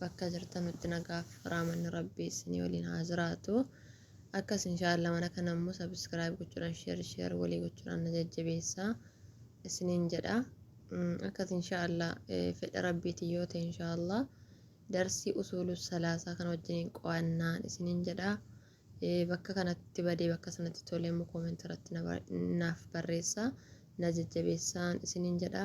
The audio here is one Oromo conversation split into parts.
bakka jirtanutti nagaaf raamanni rabbii issinii waliin haa jiraatu akkas inshaalla mana kana immoo subscribe gochuudhaan share share walii gochuudhaan na jajjabeessaa isiniin jedha akkas inshaalla fedha rabbiitiin yoo ta'e inshaalla darsii usuulu salaasaa kan wajjiniin qo'annaan isiniin jedha bakka kanatti badee bakka sanatti tolee immoo koomentii irratti naaf barreessaa na jajjabeessaan isiniin jedha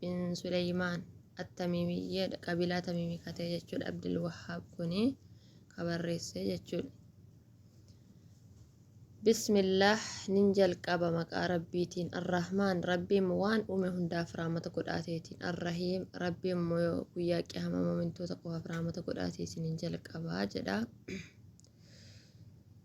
bin Suleymaan Attamiimiyyeedha. Qabiilaa Tamiimii ka ta'e jechuudha. Abdul Wahhaab kuni ka barreesse jechuudha. Bismillaah nin jalqaba maqaa Rabbiitiin Arrahmaan Rabbiin waan uume hundaaf rahmata godhaateetiin Arrahiim Rabbiin immoo guyyaa qiyaama mu'mintoota qofaaf rahmata godhaateetiin nin jalqaba jedha.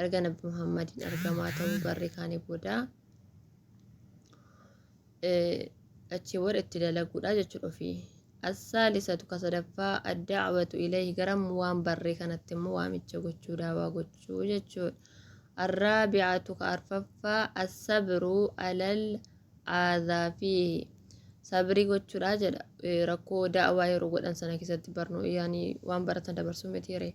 erga Nabbi Muhammadiin argamaa ta'uu barri kaanii booda achii booda itti dalaguudha jechuudha ofii. Assaalisatu ka sadaffaa addaawatu ilayhi garam waan barree kanatti immoo waamicha gochuu daawaa gochuu jechuudha. Arraabi'atu ka arfaffaa assabiruu alal aadaa fi sabrii gochuudha jedha rakkoo daawaa yeroo godhan sana keessatti barnoo yaani waan baratan dabarsuu miti yeree.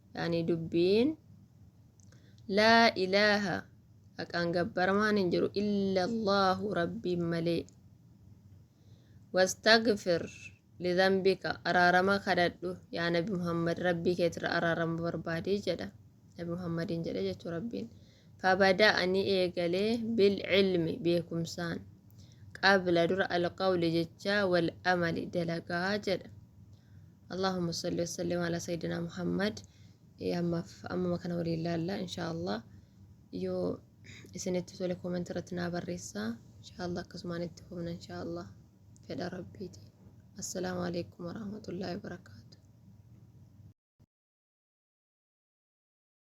yaani dubbiin laa ilaaha haqaan gabbaramaan hin jiru illa allaahu rabbiin malee wastagfir lidhanbika araarama kadhadhu yaa nabi muhammad rabbii keetirra araarama barbaadii jedha nabi muhammadiin jedhe jechuu rabbiin fabada ani eegalee bil ilmi beekumsaan qabla dura alqawli jechaa wal amali dalagaa jedha Allaahumma salli wa sallim ala sayyidina Muhammad. Eh, Ammaaf ammuma kana waliin laalla inshaallah. Yoo isinitti tole koomenti irratti naa barreessaa. Inshaallah akkasumaan itti fufna inshaallah. Fedha Rabbiiti. Assalaamu alaikum warahmatullaahi wabarakaatu.